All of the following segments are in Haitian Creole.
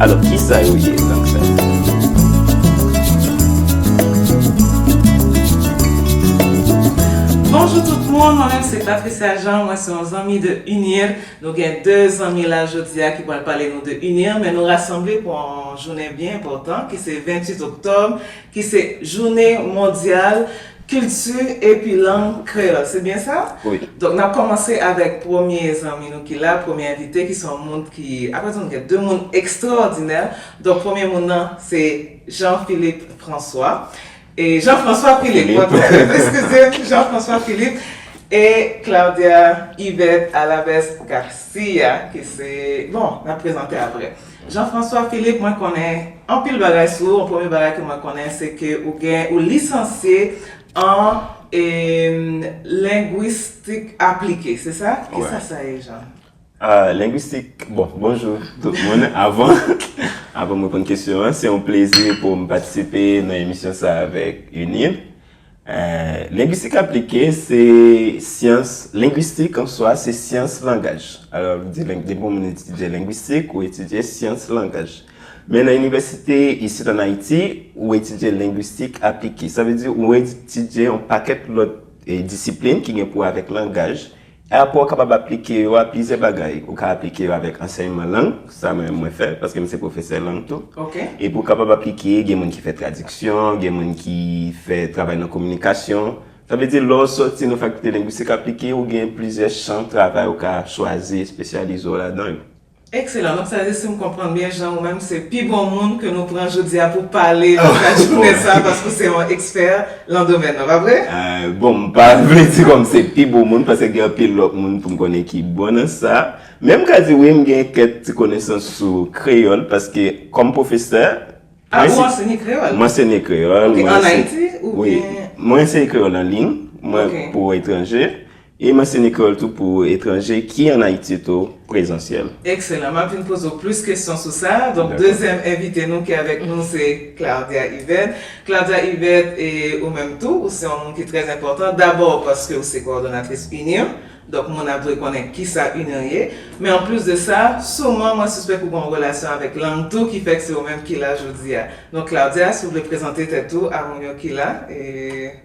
Alò kisa yo ye lang sa yo? Bonjou tout moun, mwen menm se Patricia Jean, mwen se yon zanmi de UNIR. Nou gen 2 zanmi la jodi a ki pral pale nou de UNIR men nou rasanble pou yon jounen byen enpòtan ki se 28 oktòb ki se Jounen Mondyal Kilti epi Lang Kreyòl, se byen sa? Wi. Donk n ap kòmanse avèk premye zanmi nou ki la, premye envite ki se yon moun ki, apre tou nou gen 2 moun ekstraòdinè, donk premye moun nan se Jean Philippe François, e Jean François Philippe, mwen twonpe, eskize m, Jean François Philippe, e Claudia Yvette Alaves Garcia ki se, bon, n ap prezante aprè. Jean François Philippe mwen konnen anpil bagay sou ou, premye bagay ke mwen konnen se ke ou gen ou lisansye an lengwistik aplike se sa? Ki sa sa ye Jean? Lengwistik, bon, bonjou tout moun avan avan m reponn kesyon an se yon plezi pou m patisipe nan emisyon sa avèk UNIL. Lengwistik aplike se syans, lengwistik an swa se syans langaj. Alò, depi yon moun etidye lengwistik, ou etidye syans langaj. Men nan inivèsite isit an Ayiti, ou etidye lengwistik aplike. Sa vle di ou etidye yon pakèt lòt disiplin ki gen pou wè avèk langaj. Apre w kapab aplike yo a plizyè bagay. Ou ka aplike yo avèk ansèyman lang, sa mwen menm mwen fè, paske m se pwofesè lang tou. Epi w kapab aplike, gen moun ki fè tradiksyon, gen moun ki fè travay nan kominikasyon. Sa vle di lè w soti nan fakilte lengwistik aplike, ou gen plizyè chan travay ou ka chwazi espesyalize w ladan yo. Excellent map sazi sim konprann byen jan ou menm se pi bon moun ke nou pran jodia pou pale nan ka jounen sa paske ou se yon expert lan domèn nan pa vre? Bon m pa vle di kòm se pi bon moun paske gen anpil lòt moun poum konnen ki bon nan sa men m ka di wi m gen kèk ti konesans sou kreyòl paske kòm pwofesè Ah ou ansenye kreyòl? M ansenye kreyòl. Ok an Ayiti oubyen? Wi mwen ansenye kreyòl an liy mwen pou etranje. E mèsi Nicole tou pou etranje ki an Ayiti tou prezansyèl. Ekselan, map vin poze w plis kesyon sou sa. Donk dezyèm envite nou ki avèk nou se Claudia Yvette. Claudia Yvette e ou menm tou ou se yon moun ki trè enpòtan dabò paske ou se kowòdonatris UNIR, donk moun ap dwe konnen kisa UNIR ye. Men anplis de sa, souman mwen sispèk ou gen yon relasyon avèk lang tou ki fèk se ou menm ki la jodi a. Donk Claudia, si w vle prezante tèt ou a moun yo ki la e.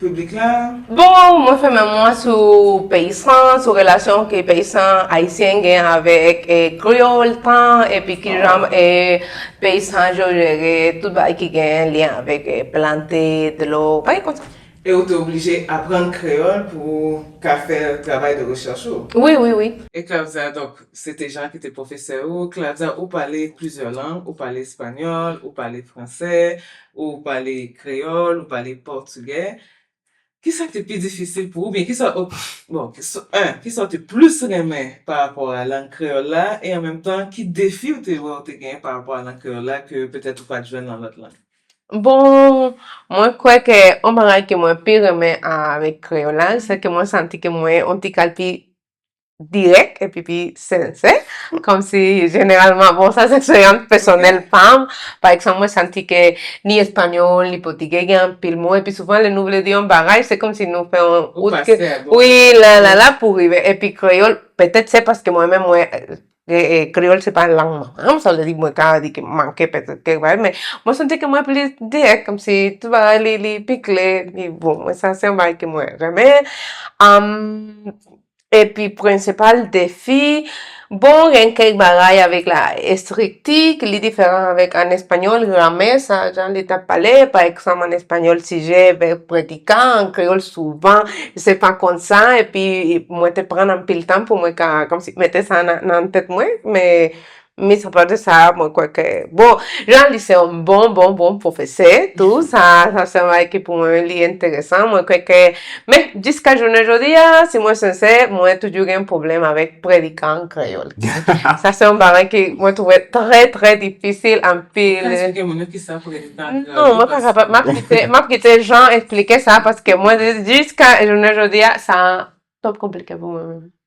piblik la. Bon, mwen fèmen mwen sou peysan, sou relasyon ke peysan ayisyen gen avèk kreyòl, tan, epi kijan peysan yo jere tout bagay ki gen lyen avèk plante, dlo, bagay konsa. E ou te oblije aprann kreyòl pou ou ka fè travay de rechèch ou? Wi, wi, wi. E Claudia, donk, se te Jean ki te pwofesè ou. Claudia, ou pale plizyè lang, ou pale espanyòl, ou pale fransè, Ou pale kreyòl, ou pale pòtugè. Ki sa k te pi difisil pou ou oubyen ki sa ou, bon, en, ki sa ou te plis renmen pa rapò a lang kreyòl la e an menm tan ki defi ou te wè ou te genyen pa rapò a lang kreyòl la ke petèt ou pa t jwenn nan lòt lang? Bon, mwen kwè ke yon bagay ke mwen pi renmen avèk kreyòl la, se ke mwen santi ke mwen yon ti kal pi dirèk epi pi sensè, kòmsi jeneralman, bon sa se eksperyans pèsonèl pa m, pa egzanp mwen santi ke ni espanyòl, ni pòtigè gen anpil mo epi souvan lè nou vle di yon bagay se kòmsi nou fè yon wout ke wi lalala pou rive epi kreyòl petèt se paske mwen menm mwen kreyòl se pa lang manman m sa vle di mwen ka di ke m manke petèt kèk bagay men mwen santi ke mwen plis dirèk kòmsi tout bagay li pi klè epi bon mwen sa se yon bagay ke mwen renmen. Epi prensipal defi, bon gen kèk bagay avèk la estrikti ki li diferan avèk an espanyòl, gramè sa jan li ta pale, pa egzanp an espanyòl sijè, vèb, predika, an kreyòl souvan se pa kon sa epi mwen te prann anpil tan pou mwen ka kòmsi mete sa nan tèt mwen, men Mis apade sa mwen kwè ke bon Jean li se yon bon bon bon pwofesè tou sa sa se yon bagay ki pou mwen li enteresan mwen kwè ke men jiska jounen jodi a si mwen sensè mwen toujou gen pwoblèm avèk predikan an kreyòl sa se yon bagay ke mwen twouve trè trè difisil anpil Ou ka esplike moun yo kisa predikan an kreyòl Non mwen pa kapab map kite map kite Jean esplike sa paske mwen jiska jounen jodi a sa twòp konplike pou mwen menm.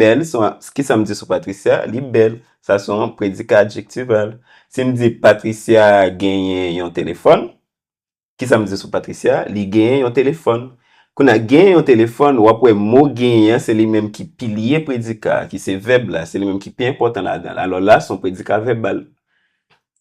Bèl, ki sa m di sou Patricia? Li bèl. Sa se yon predika adjektival. Si m di Patricia genyen yon telefòn, ki sa m di sou Patricia? Li genyen yon telefòn. Kounye a, genyen yon telefòn, w ap wè mo genyen an, se li menm ki pilye predika a, ki se vèb la. Se li menm ki pi enpòtan ladan l. Alò la, se yon predika vèbal.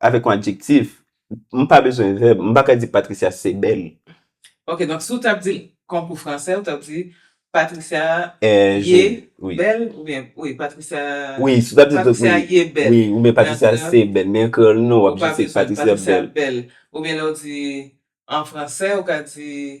avèk yon adjektif, m pa bezwen vèb, m pa ka di Patricia se bèl. Ok, donk si w tap di l konkou fransè, ou tap di Patricia ye bèl oubyen wi Patricia ye bèl. Wi, oubyen Patricia se bèl, men an kreyòl non, w ap jis di Patricia bèl. Oubyen lè w di an fransè, ou ka di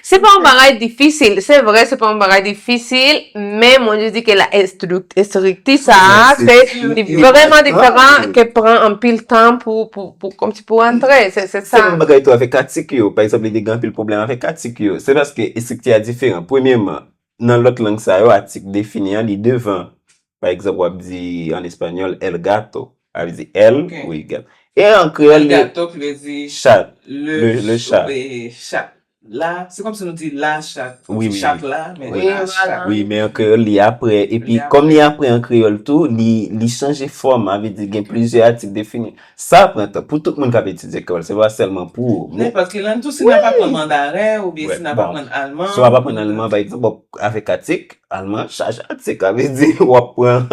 Se pa yon bagay difisil, se vre se pa yon bagay difisil, men mwen jis di ke la estrikti sa a, se vreman diferan ke pran anpil tan pou, pou, kòmsi pou antre, se sa. Se menm bagay tou avèk atik yo, pa egzanp li te gen anpil pwoblèm avèk atik yo, se paske estrikti a diferan. Premyeman, Nan lòt lang sa yo, atik defini an li devan. Pa egzanp, w ap di an espanyòl, El gato. Sa vle di el, wi, gato. E an kreyòl li. El gato ki vle di. Chat. Le chat. Chat la. Se kòmsi nou di la chat. Wi, wi, wi. Chat la, men la chat. Wi, men an kreyòl li apre. Epi, kòm li apre an kreyòl tou, li chanje fòm. Sa vle di gen plizyè atik defini. Sa pran tan pou tout moun k ap etidye kreyòl, se pa sèlman pou. Nenpòt ki lang. Tou si n ap aprann mandaren oubyen si n ap aprann alman. Si w ap aprann alman pa egzanp, w ap avèk atik alman, chaje atik. Sa vle di w ap pran.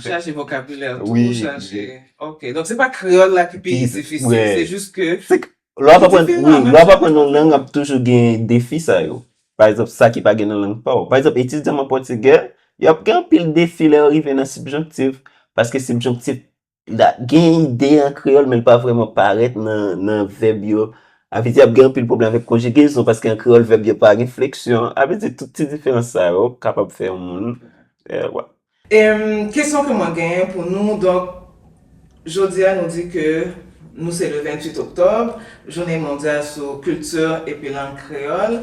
Chaje vokabilè w tou, chaje. Ok. Donk se pa kreyòl la ki pi difisil, se jis ke. Se ke lè w ap aprann, wi, lè w ap aprann yon lang ap toujou gen defi sa yo. Pa egzanp, sa ki pa gen nan lang pa w. Pa egzanp, etidyan m an pòtigè, y ap gen anpil defi lè yo rive nan sibjonktif. Paske sibjonktif La, gen ide an kreyòl men l pa vrèman parèt nan vèb yo. A vle di ap gen anpil pwoblèm avèk konjigezon paske an kreyòl vèb yo pa gen fleksyon. A vle di tout ti diferans sa yo kapab fè yon moun, wè. Kesyon ke mwen genyen pou nou, donk jodi a nou di ke nou se le 28 oktòb, jounen mondyal sou kilti epi lang kreyòl.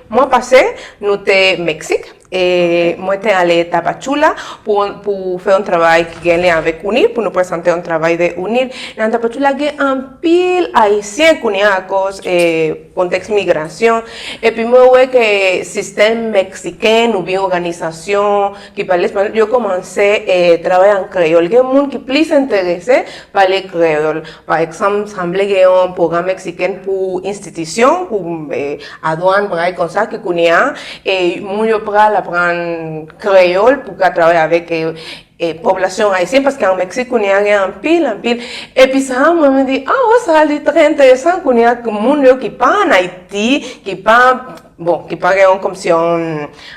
Mwa pase, nou te Meksik e mwen te ale Tapachula pou fè yon travay ki gen lyen avèk UNIR, pou nou presante yon travay de UNIR. Nan Tapachula gen anpil Ayisyen kounye a akòz kontèks migrasyon. Epi mwen wè ke sistèm meksiken oubyen òganizasyon ki pale espanyòl yo kòmanse travay an kreyòl. Gen moun ki plis enterese pale kreyòl. Pa egzanp, sanble gen yon pwogram meksiken pou enstitisyon, pou. Adwan bagay konsa ke kounye a e moun yo pral aprann kreyol pou ka travay avek e popilasyon ayisyen paske an Meksik kounye a gen anpil anpil epi sa a mwen mwen di oh sa li trè enteresan kounye a ke moun yo ki pa an Ayiti ki pa bon ki pa gen yon kòmsi yon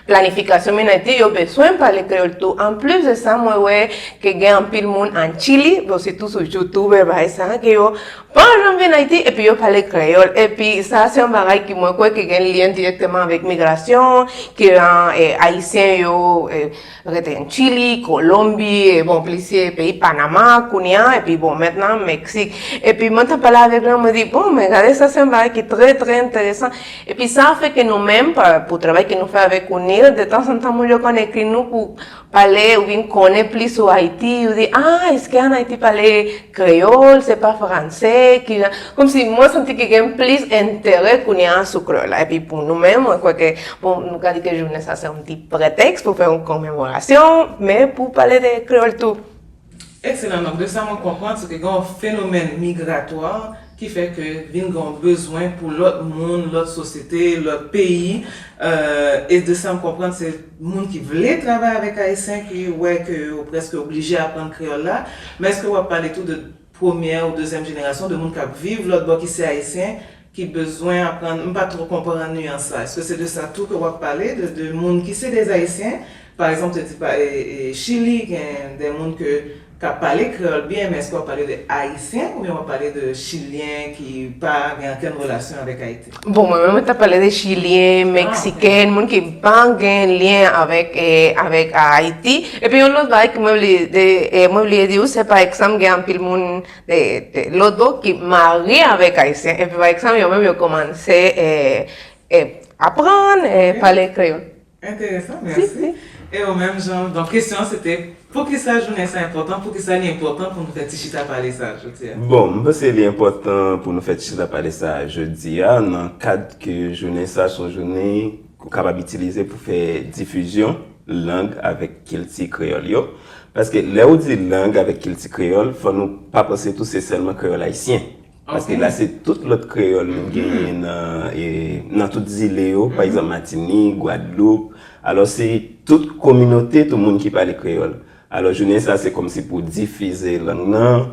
planifikasyon vin Ayiti yo beswen pale kreyol tou an plis de sa mwen wè ke gen anpil moun an Chili bon se tou sou youtube e bagay sa a ke yo Mwen pa janm vin Ayiti epi yo pale kreyòl, epi sa se yon bagay ki mwen kwè ke gen lyen dirèkteman avèk migrasyon, ke Ayisyen yo rete an Chili, Kolonbi, bon plisye peyi, Panama kounye a, epi bon mentnan Meksik. Epi mwen ta pale avèk lan, mwen di, bon men gade sa se yon bagay ki trè trè enteresan, epi sa fè ke nou menm, pou travay ke nou fè avèk UNIR, de tanzantan moun yo konn ekri nou pou. Pale ou vin konnen plis sou Ayiti, ou di, ah, eske an Ayiti pale kreyòl, se pa franse, ki jan, kòm si mwen santi ke gen plis enterè kounye a sou kreyòl la. Epi pou nou menm, mwen kwè ke, bon, nou ka di ke jounen sa se yon ti pretèks pou fè yon komemorasyon, men pou pale de kreyòl tou. Ekselan donk de sa mwen konprann se ke gen yon fenomèn migratwa ki fè ke vin gen yon bezwen pou lòt moun, lòt sosyete, lòt peyi e de sa m konprann se moun ki vle travay avèk ayisyen ki wè ke yo prèske oblije aprann kreyòl la men eske w ap pale tou de premyè ou dezyèm jenerasyon de moun k ap viv lòtbò ki se ayisyen ki bezwen aprann m pa two konprann nuance la eske se de sa tou ke wap pale de de moun ki se des ayisyen pa egzanp te di pa chili gen de moun ke ka pale kreyol byen men eske wap pale de ayisyen oubyen wap pale de chilyen ki pa gen ankenn relasyon avek ayiti. Bon mwen menm mwen tap pale de chilyen, meksiken, moun ki pa gen lyen avek avek ayiti epi yon lot bagay ke mwen vle mwen vle di ou se pa egzanp gen anpil moun Lodo ki marye avèk ayisyen epi pa ekzanp yo menm yo kòmanse aprann pale kreyòl. Enteresan, mèsi. E ou menm Jean, donk kesyon an se te poukisa jounen sa enpòtan, poukisa li enpòtan pou nou fè ti chita pale sa a jodi a? Bon, m panse li enpòtan pou nou fè ti chita pale sa a jodi a nan kad ke jounen sa a se yon jounen. Ou kapab itilize pou fè difizyon lang avèk kilti kreyòl yo. Paske lè ou di lang avèk kilti kreyòl, fò nou pa panse tou se sèlman kreyòl ayisyen. Paske la se tout lòt kreyòl nou genyen nan tout zile yo, pa egzanp Matinik, Gwadloup. Alò se tout kominote tou moun ki pale kreyòl. Alò jounen sa se kòmsi pou difize lang nan.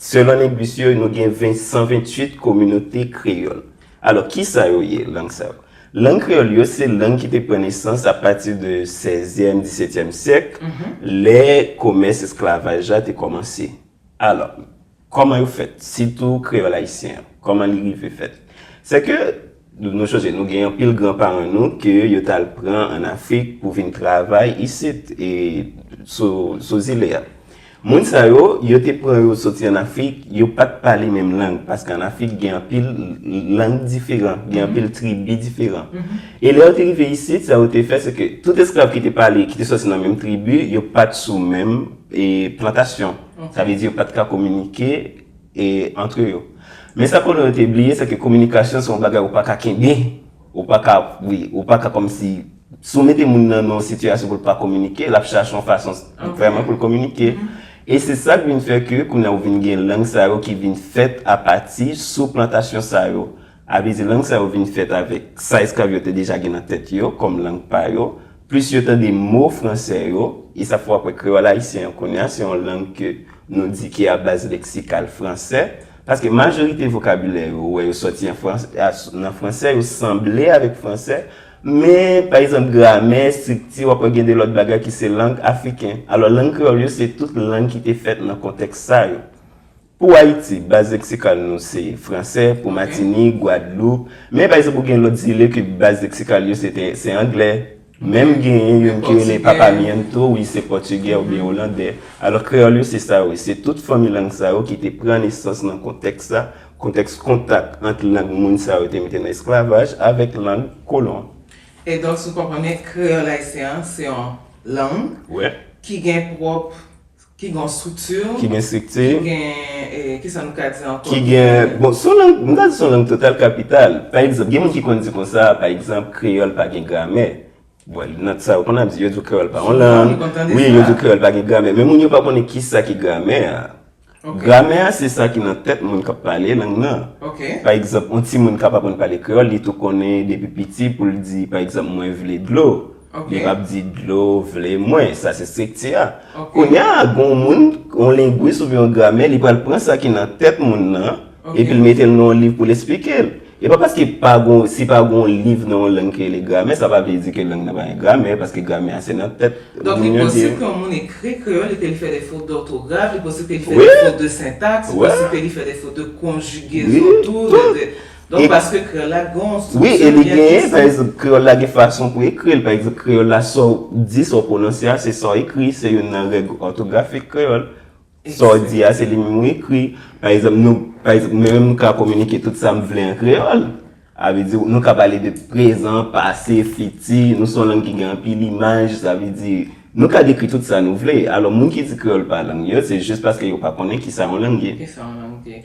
Selon lengwis yo, nou gen 128 kominote kreyòl. Alò, ki sa yo ye, lang sa yo? Lang kreyòl yo se lang ki te pran nesans apati de sèzyèm, disetyèm syèk, lè komès esklavaj la te kòmanse. Alò, kòman yo fèt, sitou kreyòl ayisyen an? Kòman li rive fèt? Sèke. Nou sonje nou gen anpil gran paran nou ke yo tal pran an Afrik pou vin travay isit e sou zile a. Moun sa yo, yo te pran yo soti an Afrik, yo pat pale menm lang paske an Afrik gen anpil lang diferan, gen anpil tribi diferan. E lè yo te rive isit, sa yo te fè se ke tout esklav ki te pale, ki te soti nan menm tribi, yo pat sou menm plantasyon. Sa vle di yo pat ka kominike. e antre yo. Men sa kolon yo te bliye se ke kominikasyon se yon bagay ou pa ka kenbe, ou pa ka, wi, ou pa ka kòmsi, si w mete moun nan nan yon sitiyasyon pou l pa kominike, l ap chache yon fason vrèman pou l kominike. E se sa k vin fè ke kounye a ou vin gen lang sa yo ki vin fèt apati sou plantasyon sa yo. Avèse lang sa yo vin fèt avèk sa esklav yo te deja gen nan tèt yo kòm lang pa yo, plis yo tande mo franse yo, e sa fè w ap wè kreyòl ayisyen an kounye a se yon lang ke nou di ki a baz leksikal franse, paske majorite vokabilè yo ou wè yo sòti nan franse, yo sanble avèk franse, men, pa egzanp, gramè, estrikti, w ap wè gen de lòt bagay ki se lang afriken. Alò, lang kreyòl yo se tout lang ki te fèt nan kontèks sa yo. Pou Ayiti, baz leksikal nou se franse, pou Matini, Gwadloup, men pa egzanp ou gen lòt zile ke baz leksikal yo se te, se angle, menm genyen youn ki rele papamiento, wi se pòtigè oubyen olandè. Alò kreyòl yo se sa wi, se tout fanmi lang sa yo ki te pran nesans nan kontèks sa, kontèks kontak ant lang moun sa yo te mete nan esklavaj avèk lang kolon. E donk sou konprann byen kreyòl ayisyen an se yon lang ki gen pwòp Ki gen yon strikti. Ki gen strikti. Ki gen, ki sa nou ka di ankò. Ki gen, bon, son lang, nou ka di son lang total kapital. Pa egzanp, gen moun ki konn di konsa, pa egzanp, kreyòl pa gen gramè. Bon, nan sa yo konn ap di, yo di w kreyòl pa yon lang. Souvan, yo konn tande sa. Wi, yo di w kreyòl pa gen gramè. Men moun yo pa konnen ki sa ki gramè a. Ok. Gramè a se sa ki nan tèt moun k ap pale lang nan. Ok. Pa egzanp, yon timoun k ap aprann pale kreyòl, li tou konnen depi piti pou l di, pa egzanp, mwen vle dlo. Li pap di dlo vle mwen. Sa se estrikti a. Kounya gon moun, yon lengwis oubyen yon gramè, li pral pran sa ki nan tèt moun nan, epi l mete l nan yon liv pou l esplike l. E pa paske pa gon, si pa gon liv nan yon lang ki rele gramè, sa pa vle di ke lang nan pa gen gramè, paske gramè a se nan tèt moun yo di. Donk li posib ke yon moun ekri kreyòl epi l fè de fot dòtograf, li posib ke li fè de fot de sentaks, li posib ke li fè de fot de konjigezon tou, de. Donk paske kreyòl la gon strikti byen presi. Wi, e li genyen, pa egzanp, kreyòl la gen fason pou ekri l. Pa egzanp, kreyòl la sa w di, sa w pwononse a, se sa w ekri. Se youn nan règ òtografik kreyòl. Sa w di a, se li menm ou ekri. Pa egzanp, nou, pa egzanp, mwen menm m ka kominike tout sa m vle an kreyòl. A vle di, nou ka pale de prezan, pase, fiti. Nou se yon lang ki gen anpil imaj. Sa vle di, nou ka dekri tout sa nou vle. Alò, moun ki di kreyòl pa lang yo, se jis paske yo pa konnen ki sa yon lang ye. Ki sa yon lang ye.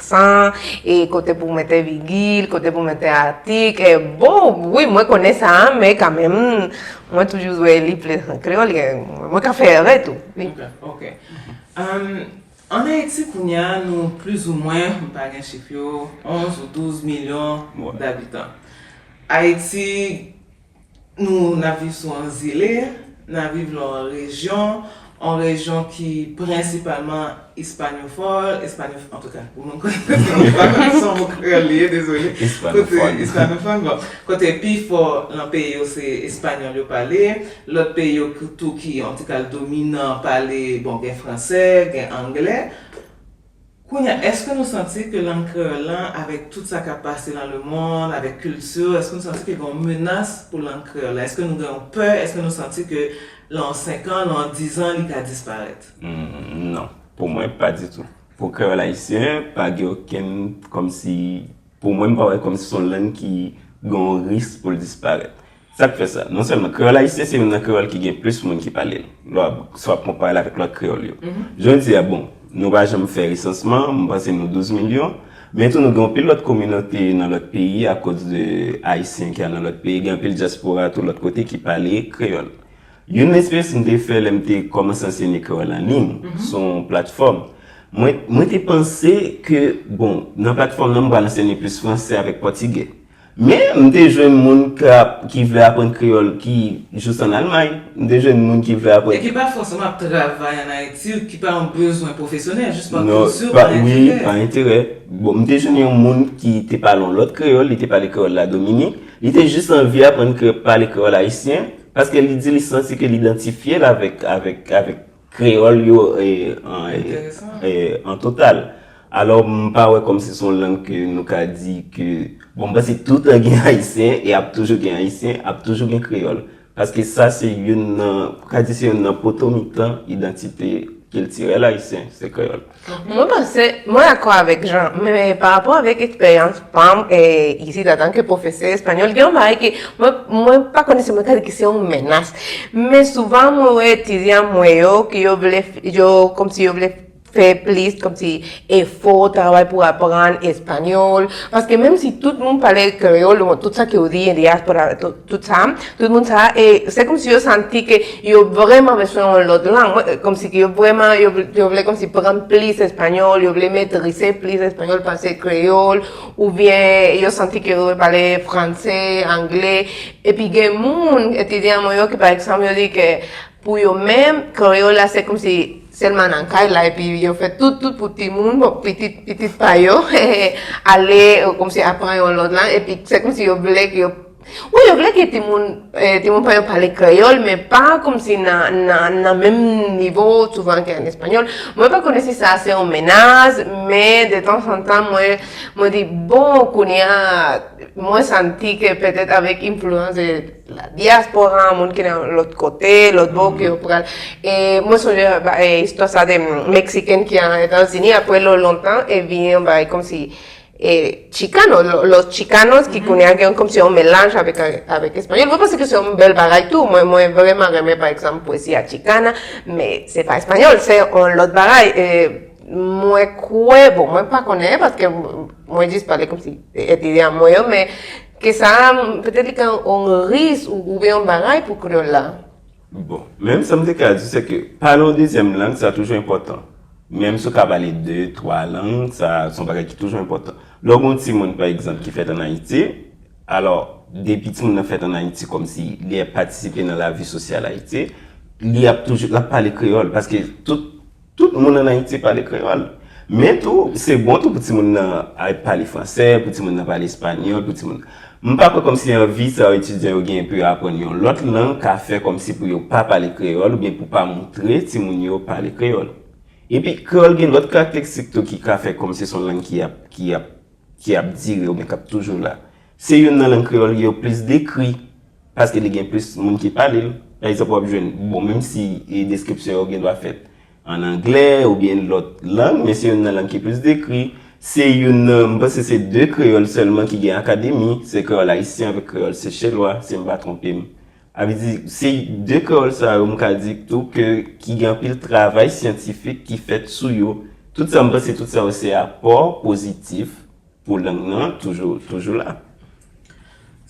Aksan, e kote pou mete vigil, kote pou mete atik, e bon, wi mwen konnen sa, men kanmenm, mwen toujou wè li plis an kreyòl, e mwen ka fè erè tou. Ok, ok. Ann Ayiti kounye a, nou plizoumwen, m pa gen chif yo, 11 ou 12 milyon dabitan. Ayiti Nou n ap viv sou yon zile, n ap viv lan yon rejyon, yon rejyon ki prensipalman ispanofòl, espanofòn, antouka, pou moun k pa konn espanòl, se yon mo kreyòl li ye, dezole, kote, ispanofòn, bon, kote pi fò lan peyi yo se espanyòl yo pale, lòt peyi yo tou ki, antouka, dominan pale, bon, gen fransè, gen anglè. Kounye a, èske nou santi ke lang kreyòl lan, avèk tout sa k ap pase nan lemonn, avèk kilti, èske nou santi ke gen yon menas pou lang kreyòl la? Èske nou gen yon pè? Èske nou santi ke lan yon senkan, lan yon dizan, li ka disparèt? Non. Pou mwen, pa ditou. Pou kreyòl ayisyen, pa gen okenn kòmsi, pou mwen, m pa wè kòmsi se yon lang ki gen yon risk pou l disparèt. Sa k fè sa? Non sèlman, kreyòl ayisyen se youn nan kreyòl ki gen plis moun ki pale l, lè w ap konpare l avèk lòt kreyòl yo. Jodi a, bon, nou pa janm fè resansman, m panse nou 12 milyon, men tou nou gen anpil lòt kominote nan lòt peyi akoz de Ayisyen ki al nan lòt peyi, gen anpil dyaspora tou lòt kote ki pale kreyòl. Youn nan esperyans m te fè lè m te kòmanse ansenye kreyòl an liy, sou yon platfòm, mwen te panse ke, bon, nan platfòm nan m pral ansenye plis fransè avèk pòtigè. Men, m te jwenn moun ki vle aprann kreyòl ki jous ann Almay. M te jwenn moun ki vle aprann. E ki pa fòseman ap travay ann Ayiti, ki pa yon bezwen pwofesyonèl, jis pa kilti ou, pa enterè. Wi, pa enterè. Bon, m te jwenn yon moun ki te pale yon lòt kreyòl, li te pale kreyòl Ladominik. Li te jis anvi aprann pale kreyòl ayisyen, paske li di li santi ke l idantifye l avèk, avèk, avèk. Kreyòl yo an total. Alò m pa wè kòm si son lang ke nou ka di ke, bon m panse tout tan gen Ayisyen e ap toujou gen Ayisyen, ap toujou gen Kreyòl. Paske sa se youn nan, ka di se youn nan poto mitan idantite kiltirèl Ayisyen, se Kreyòl. Mwen panse, mwen dakò avèk Jean, men pa rapò avèk eksperyans pa m isit antanke pwofesè espanyòl, gen yon bagay ke mwen, mwen pa konnen si mwen ka di ke se yon menas, men souvan mwen wè etidyan mwen yo ke yo vle, yo kòmsi yo vle fè plis kòmsi efò, travay pou aprann espanyòl, paske menm si tout moun pale kreyòl, tout sa ke yo di, diaspora, tout sa, Tout moun sa e se kòmsi yo santi ke yo vrèman beswen yon lòt lang. Mwen kòmsi ke yo vrèman yo yo vle kòmsi pran plis espanyòl, yo vle metrize plis espanyòl pase kreyòl oubyen yo santi ke yo dwe pale franse, angle. Epi gen moun, etidyan mwen yo ki pa ekzanp yo di ke pou yo menm kreyòl la se kòmsi sèlman nan kay la epi yo fè tout tout pou timoun, bon pitit pitit pa yo ale kòmsi apran yon lòt lang epi se kòmsi yo vle ke yo Wi yo vle ke timoun timoun pa yo pale kreyòl men pa kòmsi nan nan nan menm nivo souvan ke an espanyòl. Mwen pa konnen si sa se yon menas men de tan san tan mwen mwen di bon kounye a mwen santi ke petèt avèk enfliyans de la diaspora moun ki nan lòt kote lòt bò ke yo pral e mwen sonje istwa sa de meksikèn ki al Etazini apre lò lontan e vini yon bagay kòmsi E chicano, los chicanos, ki kounye a gen kòm se yon melanj avèk espanyòl. Mwen panse ke se yon bèl bagay tou. Mwen vreman renmen, pa egzanp, poesia chicana, men se pa espanyòl, se yon lòt bagay. Mwen kwè, bon, mwen pa konnen, paske mwen jis pale kòm si e te a mwen yo, men ke sa a, petèt li ka yon riz oubyen yon bagay pou kreyòl la. Bon, men sa m te ka di se ke pale yon dezyèm lang sa toujou enpòtan. Menm si w ka pale de, twa lang, sa se yon bagay ki toujou enpòtan. Lè w gen yon timoun pa egzanp ki fèt ann Ayiti, alò depi timoun nan fèt ann Ayiti kòmsi li ap patisipe nan lavi sosyal Ayiti, li ap toujou, l ap pale kreyòl paske tout Tout moun an Ayiti pale kreyòl. Men tou, se bon tou pou timoun nan al pale franse, pou timoun nan pale espanyòl, pou timoun nan. M pa kwè kòmsi anvi sa etidyan yo genyen pou yo aprann yon lòt lang ka fè kòmsi pou yo pa pale kreyòl oubyen pou pa montre timoun yo pale kreyòl. Epi, kreyòl gen lòt karakteristik tou ki ka fè kòmsi se yon lang ki ap, ki ap. ki ap dire oubyen k ap toujou la. Se youn nan lang kreyòl ki yo plis dekri paske li gen plis moun ki pale l. Pa egzanp, w ap jwenn, bon menm si deskripsyon yo gen dwa fèt ann angle oubyen lòt lang, men se youn nan lang ki plis dekri. Se youn nan, m panse se de kreyòl sèlman ki gen akademi, se kreyòl ayisyen avèk kreyòl sechelwa, si m pa twonpe m. A vle di, se de kreyòl sa yo m ka di tou ke ki gen anpil travay syantifik ki fèt sou yo. Tout sa m panse tout sa yo se apò pozitif pou lang nan toujou toujou la.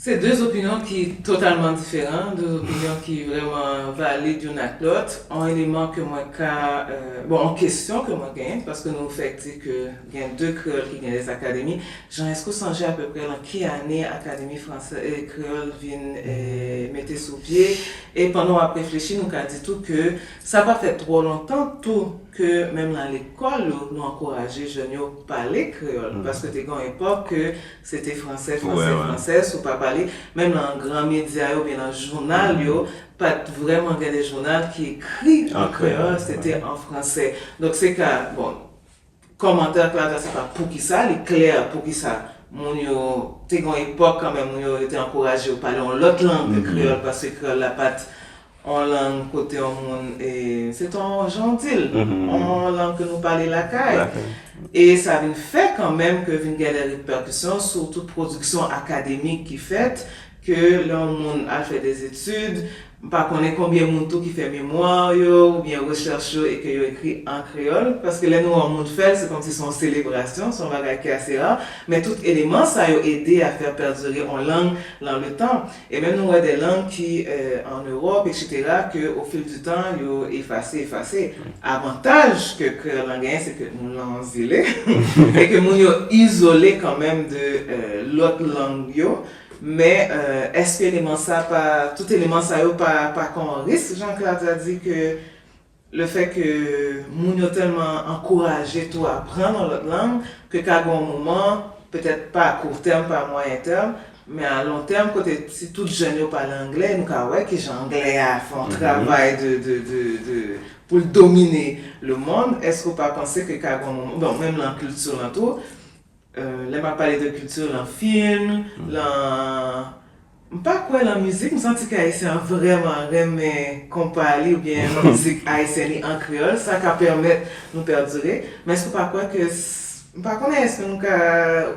Se de opinyon ki totalman diferan, de opinyon ki vrèman valid youn ak lòt. On eleman ke mwen ka, bon on kesyon ke mwen genyen, paske nou fèk di ke. Gen de kreyòl ki gen lès akademi. Jean, èske ou sonje apeprè lan ki ane Akademi franse e kreyòl vin mete sou pye? E pandan w ap reflechi nou ka di tou ke sa pa fè twò lontan tou ke menm lan lekòl yo nou ankouraje jèn yo pale kreyòl paske te gen yon epòk ke se te franse, franse, franse si w pa pale menm lan gran medya yo oubyen lan jounal yo pa t vrèman gen de jounal ki ekri an kreyòl se te an franse. Donk se ka, bon. Kòmantè Claudia se pa poukisa, li klè poukisa moun yo te gen yon epòk kanmenm moun yo yo te ankouraje yo pale yon lòt lang ke kreyòl paske kreyòl la pa t yon lang kote yon moun se t yon jan w di l yon lang ke nou pale lakay e sa vin fè kanmenm ke vin gen de repèkisyon sou tout pwodiksyon akademik ki fèt Ke lè yon moun al fè des études, m pa konnen konbyen moun tou ki fè mémoire yo oubyen recherche yo e ke yo ekri an kreyòl, paske lè nou wè yon moun fè l, se kòmsi se yon selebrasyon, se yon bagay ki ase rare, men tout eleman sa yo ede a faire perdurer on langue lan le temps. E menm nou wè des langues ki an Europe etc. ke au fil du temps yo efase, efase. Avantaj ke kreyòl lan genyen se ke nou lan yon zile e ke moun yo izole kan menm de lòt lang yo, Men, èske eleman sa pa, tout eleman sa yo pa pa kon an risk, jan Claude a di ke le fè ke moun yo tèlman ankouraje tou aprann yon lòt lang ke ka gen yon moman, petèt pa a court terme, pa a moyen terme, men a long terme kote si tout jèn yo pale angle, nou ka wè kijan angle a fè yon travay de, de, de, de, pou l domine le mond, èske ou pa panse ke ka gen yon moman, bon, menm lan kilti lan tou, Lè map pale de culture lan film, lan m pa kwè lan mizik m santi ke ayisyen an vrèman renmen konpa li oubyen mizik ayisyen li an kreyòl sa ka pèmèt nou perdure men èske ou pa kwè ke m pa konnen èske nou ka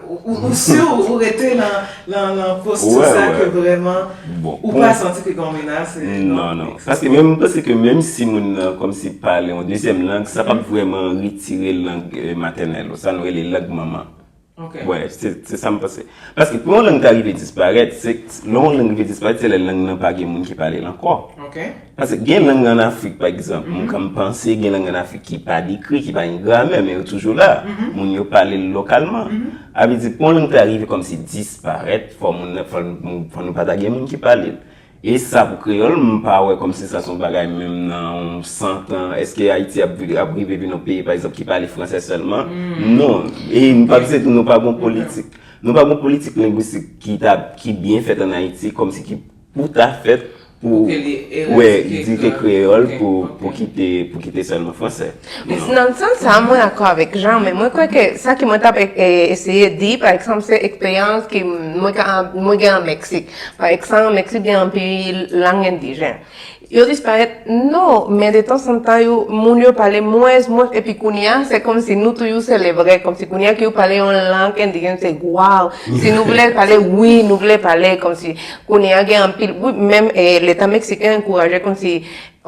ou si ou rete lan lan posti sa ke vrèman ou pa santi ke gen yon menas nan non paske menm m panse ke menm si moun nan kòmsi pale yon dezyèm lang sa pap vrèman tire lang matènèl ou, sa nou rele lang manman. Ok. Wè, se sa m panse. Paske pou yon lang ta rive disparèt, se lè yon lang rive disparèt, se lè lang nan pa gen moun ki pale l ankò. Ok. Paske gen lang an Afrik, pa egzanp, m konn panse gen lang an Afrik ki pa dekri, ki pa gen gramè, men yo toujou la. Moun yo pale l lokalman. A vle di pou yon lang ta rive kòmsi disparèt, fò moun, fò nou pa ta gen moun ki pale l. E sa pou kreyòl, m pa wè kòm si sa son bagay menm nan yon 100 tan, èske Ayiti ap rive vin yon peyi pa egzanp ki pale fransè sèlman? Non. E m pa pse tou nou pa gon politik, nou pa gon politik lengwistik ki ta, ki byen fèt an Ayiti kòm si ki pou ta fèt pou, wè, di ke kreyòl pou kite, pou kite sèlman fransè. Nan sans sa a, mwen akò avèk Jean, men mwen kwè ke sa ke mwen t ap eseye di, pa eksanp, se eksperyans ke mwen ka, mwen gen an Meksik. Pa eksanp, Meksik gen anpil lang endijen. Yo disparèt? Non! Men de tansantan yo, moun yo pale mwens, mwens, epi kounye a, se kòmsi nou tou yo selebre, kòmsi kounye a ke yo pale yon lang endijen se waw! Si nou vle pale, wi, nou vle pale, kòmsi kounye a gen anpil, wi, menm Leta Meksiken ankouraje kòmsi.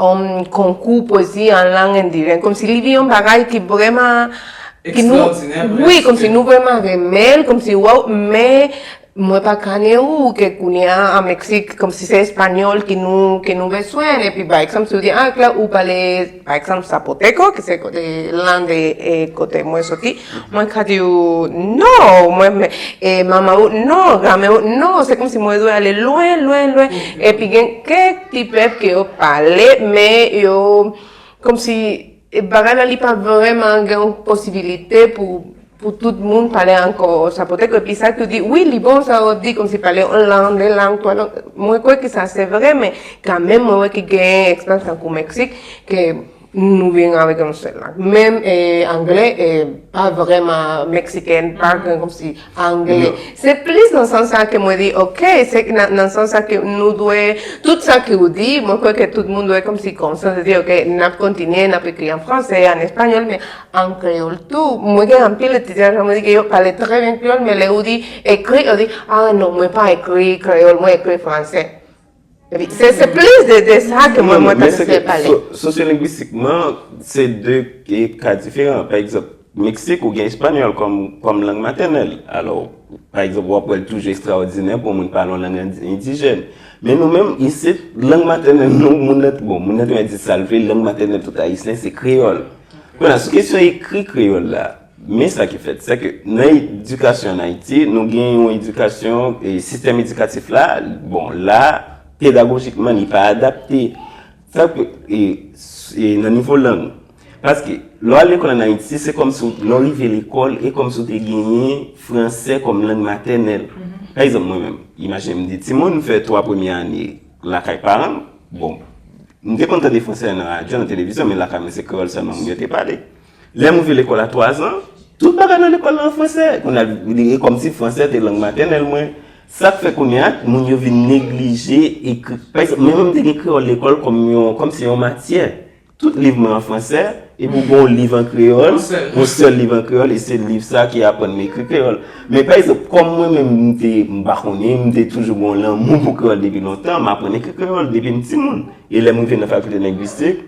Yon konkou pwezi an lang endiren. Kòmsi li vin yon bagay ki vreman. Ekstraòdinè prèske. Wi, kòmsi nou vreman renmen l, kòmsi wòw, men mwen pa kane ou ke kounye a an Meksik, kòmsi se espanyòl ke nou beswen. Epi pa egzanp, si ou di, a Claire ou pale pa egzanp Zapoteko, ki se lang kote mwen soti, Mwen kade yo, non! Mwen men, e manman ou, non! Granmè ou, non! Se kòmsi mwen bezwen ale lwen, lwen, lwen. Epi gen kèk ti pèp ke yo pale, men yo kòmsi bagay la li pa vrèman gen yon posibilite pou pou tout moun pale ankò sa. Poutèt ke pi sa ki di, wi li bon sa ou ap di kòmsi pale yon lang, de lang, twa lang. Mwen kwè ke sa se vre men kanmenm mwen wè ke gen eksperyans tankou Meksik ke Nou vin avèk yon sèl lang. Menm anglè pa vrèman meksikèn, pa gen kòmsi anglè. Se plis nan sans sa ke mwen di ok, se nan sans sa ke nou dwe, tout sa ke ou di, mwen kwè ke tout moun dwe kòmsi konsyan de di ok, n ap kontinye, n ap ekri an fransè, an espanyòl, men an kreyòl tou. Mwen gen anpil etidyan ke mwen di ke yo pale trè byen kreyòl, men lè ou di ekri, yo di, ah non, mwen pa ekri kreyòl, mwen ekri fransè. Se plis de de sa ke mwen mwen ta sifè pale. Sosyolengwistikman, se de ka diferan. Pa egzanp, Meksik ou gen espanyòl kòm lang matènèl. Alò, pa egzanp, wap wèl toujou ekstraòdinè pou moun pale yon lang endijèn. Men nou menm, isit, lang matènèl nou, moun nan, bon, moun nan te mèt di sa l vle, lang matènèl tout ayisyen se kreyòl. Kounya, sou kesyon ekri kreyòl la. Men sa ki fèt, sè ke nan edikasyon an Ayiti, nou gen yon edikasyon, sistèm edikatif la, bon, la, pedagojikman, li pa adapte. Sa ke, e, nan nivo lang. Paske, lè w al lekòl an Ayiti, se kòm si w, lè w rive lekòl, e kòm si w te genyen franse kòm lang matènèl. Pa egzanp, mwen menm, imajine m di ti moun, m fè 3 premye ane lakay paran m, bon, m te konn tande franse nan radyo, nan televizyon, men lakay mwen se kreyòl sèlman moun yo te pale. Lè m rive lekòl a twazan, tout bagay nan lekòl la an franse. Kounye a, e kòmsi franse te lang matènèl mwen. Sa k fè kounye a, moun yo vin neglije ekri. Pa egzanp, menm lè m te gen kreyòl lekòl kòm se yon matyè, tout liv mwen an franse, epi ou gen yon liv an kreyòl, yon sèl liv an kreyòl, e se liv sa a ki aprann m ekri kreyòl. Men pa egzanp, kòm mwen menm m te, m pa konnen, m te toujou gen yon lanmou pou kreyòl depi lontan, m aprann ekri kreyòl depi m timoun. E lè m rive nan fakilte lengwistik.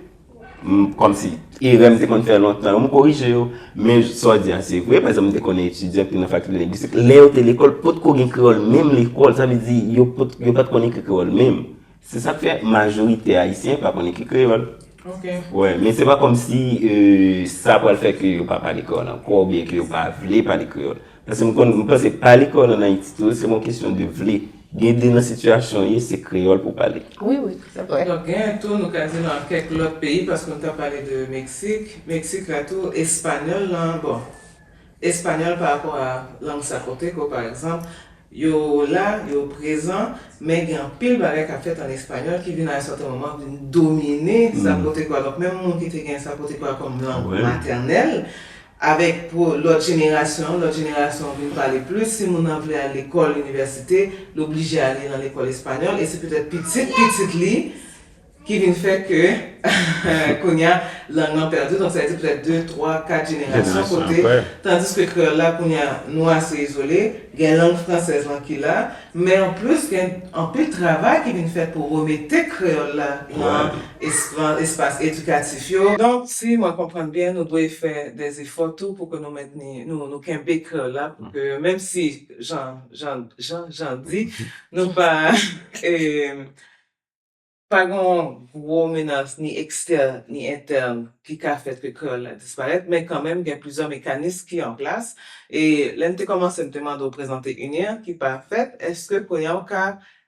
M kòmsi erè m te konn fè lontan yo m korije yo. Men sa w di a se vre. Pa egzanp, m te konnen etidyan ki te nan fakilte lengwistik, lè yo te lekòl, potko gen kreyòl menm lekòl. Sa vle di yo pa t konn ekri kreyòl menm. Se sa k fè majorite Ayisyen pa konn ekri kreyòl. Men se pa kòmsi sa pral fè ke yo pa pale kreyòl ankò oubyen ke yo pa vle pale kreyòl. Paske m konn, m panse pale kreyòl an Ayiti tou se yon kesyon de vle. Gen de nan sitiyasyon w ye se kreyòl pou w pale. Wi, wi, se vre. Donk gen tou nou ka di nan kèk lòt peyi paske nou ta pale de Meksik, Meksik la tou espanyòl lan, bon, espanyòl pa rapò a lang sa kote ke w pa egzanp, yo la, yo prezan, men gen anpil bagay k ap fèt an espanyòl ki vin a yon sèten moman vin domine sa kote ke w a. Donk menm moun ki te gen sa kote ke w a kòm lang matènèl, Avèk pou lòt jenerasyon, lòt jenerasyon an vin pale plis, si moun nan vle al lekòl, inivèsite, li oblije ale nan lekòl espanyòl e se petèt pitit pitit li ki vin fè ke kounye a lang lan pèdi, donk sa vle di petèt de, twa, kat jenerasyon kote, tandiske kreyòl la kounye a nou ase izole, gen lang fransèz lan ki la, Men anplis gen anpil travay ki vin fèt pou remete kreyòl la nan espas edikatif yo. Donk, si mwen konprann byen, nou dwe fè de efò tou pou ke nou mentni, nou kenbe kreyòl la pou ke menm si jan Jan di, nou pa. Pa gen yon gwo menas ni ekstèn ni entèn ki ka fè ke kreyòl la disparèt, men kanmenm gen plizyè mekanis ki an plas. E lè n te kòmanse m te mande w prezante UNIR ki pa fèt, èske kounye a w ka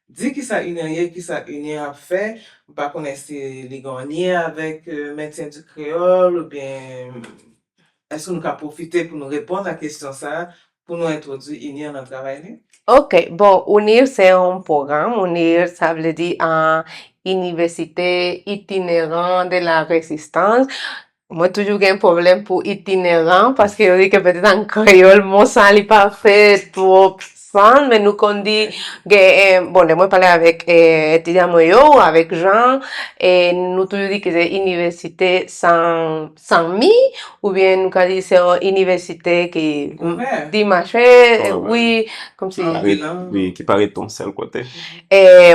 di kisa UNIR ye, kisa UNIR ap fè? M pa konnen si li gen yon lyen avèk Maintien du Créole oubyen èske nou ka pwofite pou nou reponn a kesyon sa a pou nou entwodwi UNIR nan travay li? Ok, bon UNIR se yon pwogram, UNIR sa vle di Université Itinérant de la Résistance, mwen toujou gen pwoblèm pou itineran paske yo di ke petèt an kreyòl mo sa li pa fè twòp sans men nou konn di gen, bon lè mwen pale avèk etidyan mwen yo ou avèk Jean nou toujou di ke se Université sans Sanmi, oubyen nou ka di se yon inivèsitè ke di machè, wi, kòm si. Wi, ki parèt yon sèl kote.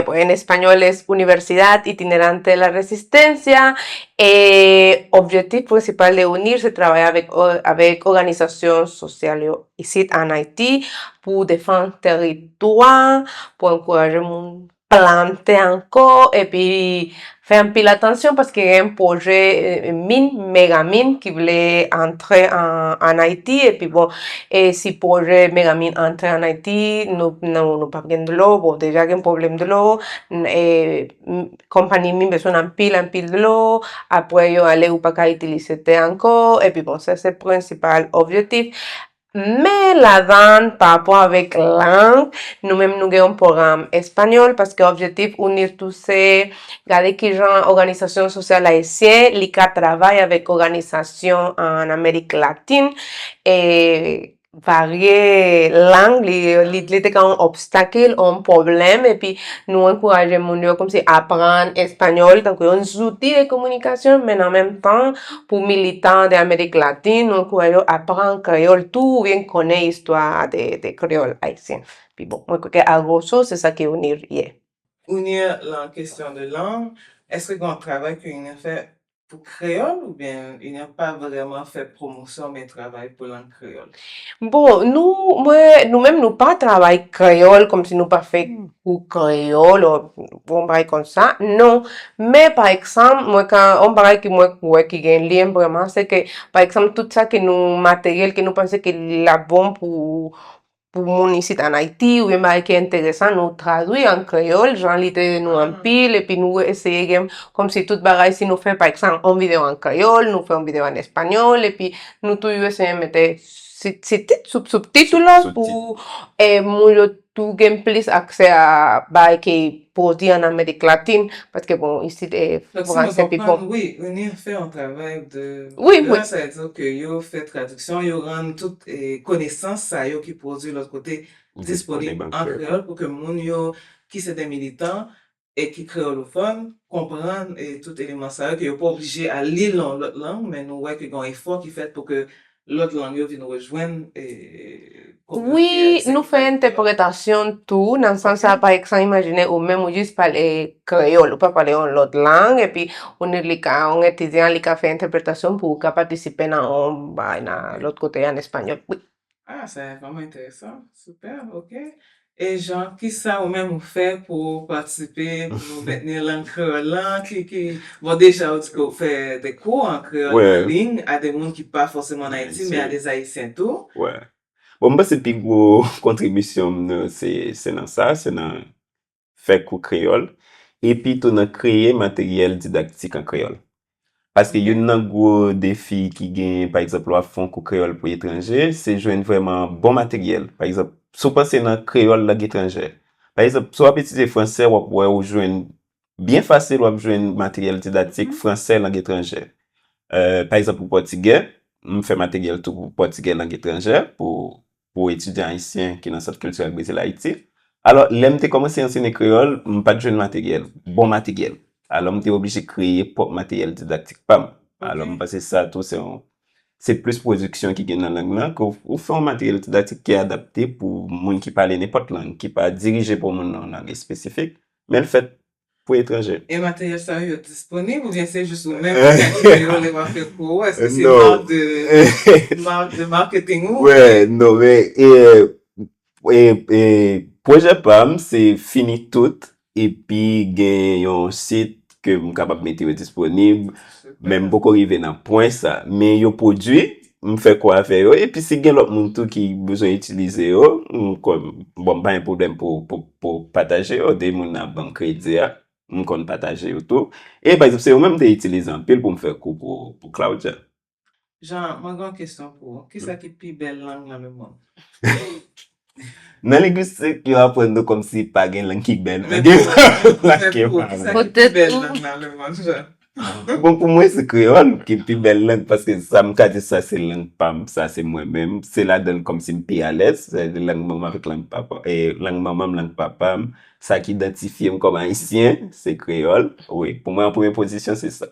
Bon, en español es Universidad Itinerante de la Resistencia, e objektif prensipal de UNIR se travay avèk òganizasyon sosyal yo isit an Ayiti pou defann tèritwa, pou ankouraje moun plante ankò epi fè anpil atansyon paske gen pwojè min, mega min ki vle antre an Ayiti epi bon e si pwojè mega min antre an Ayiti nou pap gen dlo bon deja gen pwoblèm dlo e konpani min bezwen anpil anpil dlo apre yo ale ou pa ka itilize tè ankò epi bon sa se prensipal objetif Men ladan, parapò avèk lang, nou menm nou gen yon pwogram espanyòl paske objektif UNIR tou se gade ki jan òganizasyon sosyal ayisyen li ka travay avèk òganizasyon ann Amerik Latin e varye lang li te ka yon obstakil, yon pwoblèm epi nou ankouraje moun yo kòmsi aprann espanyòl tankou yon zouti de kominikasyon men an menm tan Pou militan de Amerik Latin, nou kwè yo aprann kreyòl tou oubyen ki konnen istwa de kreyòl ayisyen. Pi bon, mwen kwè ke a grosso, se sa ke UNIR ye. UNIR lan kesyon de lang, eske gen yon travay ke UNIR fè pou kreyòl oubyen UNIR pa vrèman fè pwomosyon oubyen travay pou lang Bon, nou, mwen, nou menm nou pa travay kreyòl kòm si nou pa fè kou kreyòl o yon bagay kon sa, non. Men, pa ekzanp, mwen ka, yon bagay ke mwen kwè ki gen lyen vrèman, se ke, pa ekzanp, tout sa ke nou, materyèl ke nou panse ke l ap bon pou, pou moun isit an Ayiti ou byen bagay ki enteresan nou tradui an kreyòl jan li te nou anpil epi nou eseye gen kòm si tout bagay si nou fè pa ekzanp yon videyo an kreyòl nou fè yon videyo an espanyòl epi nou toujou eseye mete sitit soubtitit pou moun yo tou gen plis aksè a bagay ki Pou w di an amerik latin paske bon isit e franse pi bon. Wi UNIR fè yon travay de gran sa di w ke yo fè tradiksyon yo rann tout konesans sa yo ki pwodwi lòt kote disponib an kreyòl pou ke moun yo ki se de militan e ki kreyolofòn konprann tout eleman sa yo ke yo pa oblije al li l nan yon lòt lang men nou wè ke gen yon efò ki fèt pou ke Lòt lang yo vin rejwenn kominote ayisyen ki pa gen. Nou fè entèpretasyon tou nan sans sa pa ekzan imajine ou menm ou jis pale kreyòl ou pa pale yon lòt lang epi ou ne li ka yon etidyan li ka fè entèpretasyon pou ou ka patisipe nan yon bagay nan lòt kote an espanyòl wi. Ah sa vrèman enteresan super ok E Jean, kisa ou menm ou fè pou ou patisipe pou nou mentni lang kreyòl lan? Ki, ki, bon deja ou di ke ou fè de kou an kreyòl an liy a de moun ki pa fòseman ann Ayiti men a de Ayisyen tou. Wè. Bon m panse pi gwo kontribisyon m nan se, se nan sa, se nan fè kou kreyòl epi tou nan kreye materyèl didaktik an kreyòl. Paske youn nan gwo defi ki genyen, pa egzanp, lè w ap fè yon kou kreyòl pou etranje, se jwenn vrèman bon materyèl. Pa egzanp, si w panse nan kreyòl lang etranjè, pa egzanp, si w ap etidye franse, w ap wè ou jwenn, byen fasil w ap jwenn materyèl didaktik franse lang etranjè. Pa egzanp pou pòtigè, m fè materyèl tou pou pòtigè lang etranjè, pou pou etidyan ayisyen ki nan Sant Kiltirèl Brezil Ayiti. Alò, lè m te kòmanse ansene kreyòl, m pa t jwenn materyèl, bon materyèl. Alò, m te oblije kreye pwòp materyèl didaktik pa m. Alò, m panse sa tou se yon, se plis pwodiksyon ki gen nan lang nan ke ou fè yon materyèl didaktik ki adapte pou moun ki pale nenpòt lang, ki pa dirije pou moun nan yon lang espesifik, men l fèt pou etranje. E materyèl sa yo disponib oubyen se jis ou menm ki ka limen yo lè wap fè kou ou? Èske se mark de mark de marketing ou? Wè non men pwojè pam se fini tout epi gen yon sit ke m kapab mete yo disponib men m poko rive nan pwen sa men yo pwodui M fè kò avè yo. Epi si gen lòt moun tou ki bezwen itilize yo, m konn, bon m pa gen pwoblèm pou pataje yo. Depi moun nan ap ban m kredi a, m konn pataje yo tou. E pa egzanp se yo menm m te itilize anpil pou m fè kou pou Claudia. Jean, mwen gen yon kesyon pou ou. Kisa ki pi bèl lang nan lemonn? Nan lengwistik, yo aprann nou kòmsi pa gen lang ki bèl. Men gen lang ki pa bèl. Pou tèt ou. Bon, pou mwen se kreyòl ki pi bèl lang paske sa m ka di sa se lang pa m, sa se mwen menm. Se ladan l kòmsi m pi alèz. Lang manman m avèk lang papa m, lang manman m, lang papa m. Sa ki idantifye m kòm Ayisyen, se kreyòl. Wi, pou mwen an premye pozisyon se sa.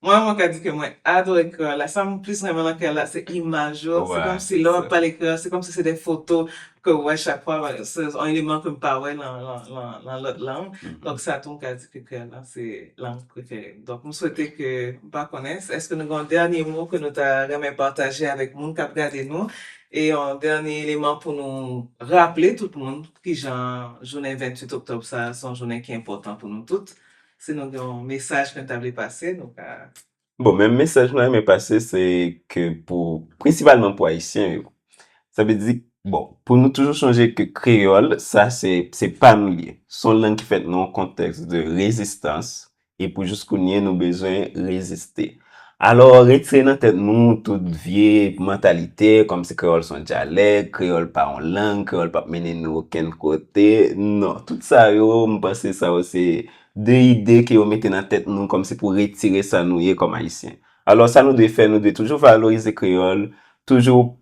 Mwen mwen ka di ke mwen adore kreyòl la, sa m plis renmen nan kreyòl la se imaj yo, se kòm si lè w ap pale kreyòl se kòm si se de foto ke w wè chak fwa, se yon eleman ke m pa wè nan nan lòt lang, donk sa tou m ka di ke kreyòl la se lang prefere m, donk m swete ke, m pa konnen èske nou gen yon dènye mo ke nou ta renmen pataje avèk moun k ap gade nou, e yon dènye eleman pou nou raple tout moun kijan jounen 28 oktòb sa a se yon jounen ki enpòtan pou nou tout, Si nou gen yon mesaj ke nou ta vle pase nou ka. Bon men mesaj mwen renmen pase se ke pou prensipalman pou ayisyen yo sa vle di bon pou nou toujou sonje ke kreyòl sa se se pa nou li ye se yon lang ki fèt nan yon kontèks de rezistans e pou jis kounye nou bezwen reziste. Alò, retire nan tèt nou tout vye mantalite kòm si kreyòl se yon dyalèk, kreyòl pa yon lang, kreyòl pap mennen nou okenn kote. Non, tout sa yo, m panse sa yo se de ide ke yo mete nan tèt nou kòm si pou retire sa nou ye kòm Ayisyen. Alò, sa nou dwe fè, nou dwe toujou valorize kreyòl, toujou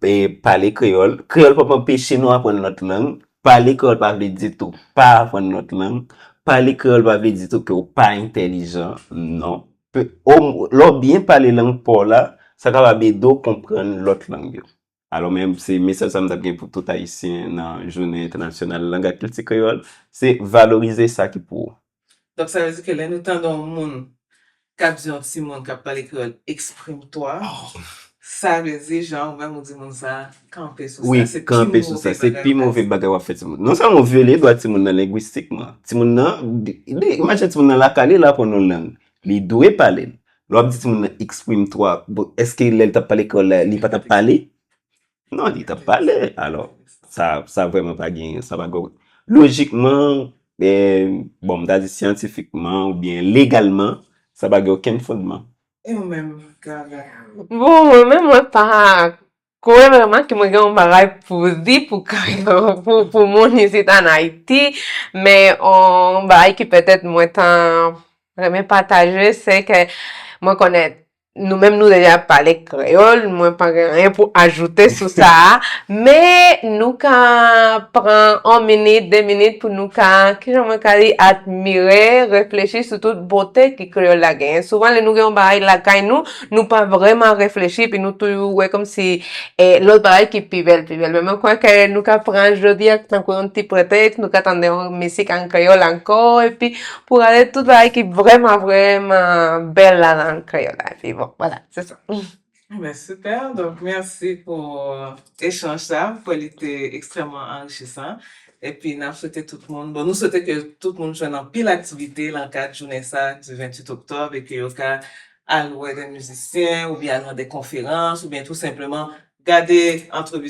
pale kreyòl. Kreyòl pap anpeche nou aprann lòt lang. Pale kreyòl pa vle di tou pa aprann lòt lang. Pale kreyòl pa vle di tou ke ou pa entèlijan. Non. Lè w byen pale lang pa w la, sa kapab ede w konprann lòt lang yo. Alò men, se mesaj sa m ta gen pou tout Ayisyen nan Jounen Entènasyonal Lang ak Kilti Kreyòl, se valorize sa ki pou ou. Donk sa vle di ke lè nou tande yon moun k ap di yon timoun k ap pale kreyòl, Exprime-toi! Sa vle di janw menm ou di moun sa kanpe sou sa se pi move bagay se pi move bagay wap fè timoun non sèlman ou vyole dwa timoun nan lengwistikman timoun nan imajine timoun nan lakay li la aprann yon lang li dwe palel lè wap di timoun nan exprime toi bon eske lèl tap pale kreyòl la li patap pale non li tap pale alò sa sa vrèman pa gen sa pa gen lojikman bon mta di syantifikman oubyen legalman sa pa gen okenn fondman E ou menm Gaga? Bon mwen menm mwen pa kwè vreman ke mwen gen yon bagay pou di pou pou moun isit an Ayiti, men yon bagay ke petèt mwen ta renmen pataje se ke mwen konnen nou menm nou deja pale kreyòl, mwen pa gen anyen pou ajoute sou sa a, men nou ka pran yon minit, de minit pou nou ka, kijan mwen ka di, admire, reflechi sou tout bote ki. kreyòl la genyen. Souvan lè nou gen yon bagay lakay nou, nou pa vrèman reflechi epi nou toujou wè kòm si lòt bagay ki pi bèl, pi bèl. Men mwen kwè ke nou ka pran jodi a tankou yon ti pretèks, nou ka tande yon misik an kreyòl ankò epi pou rale tout bagay ki vrèman, vrèman bèl la nan kreyòl la. Epi bon, vwala, se sa. Bon ben super, donk mèsi pou echanj sa, m kwè li te ekstrèmman anrichisan, epi n ap swete tout moun, bon nou swete ke tout moun jwenn anpil aktivite lan kad jounen sa di 28 oktòb e ke yo ka al wè dè mizisyen oubyen al nan dè konferans oubyen tou senpleman gade antrevi.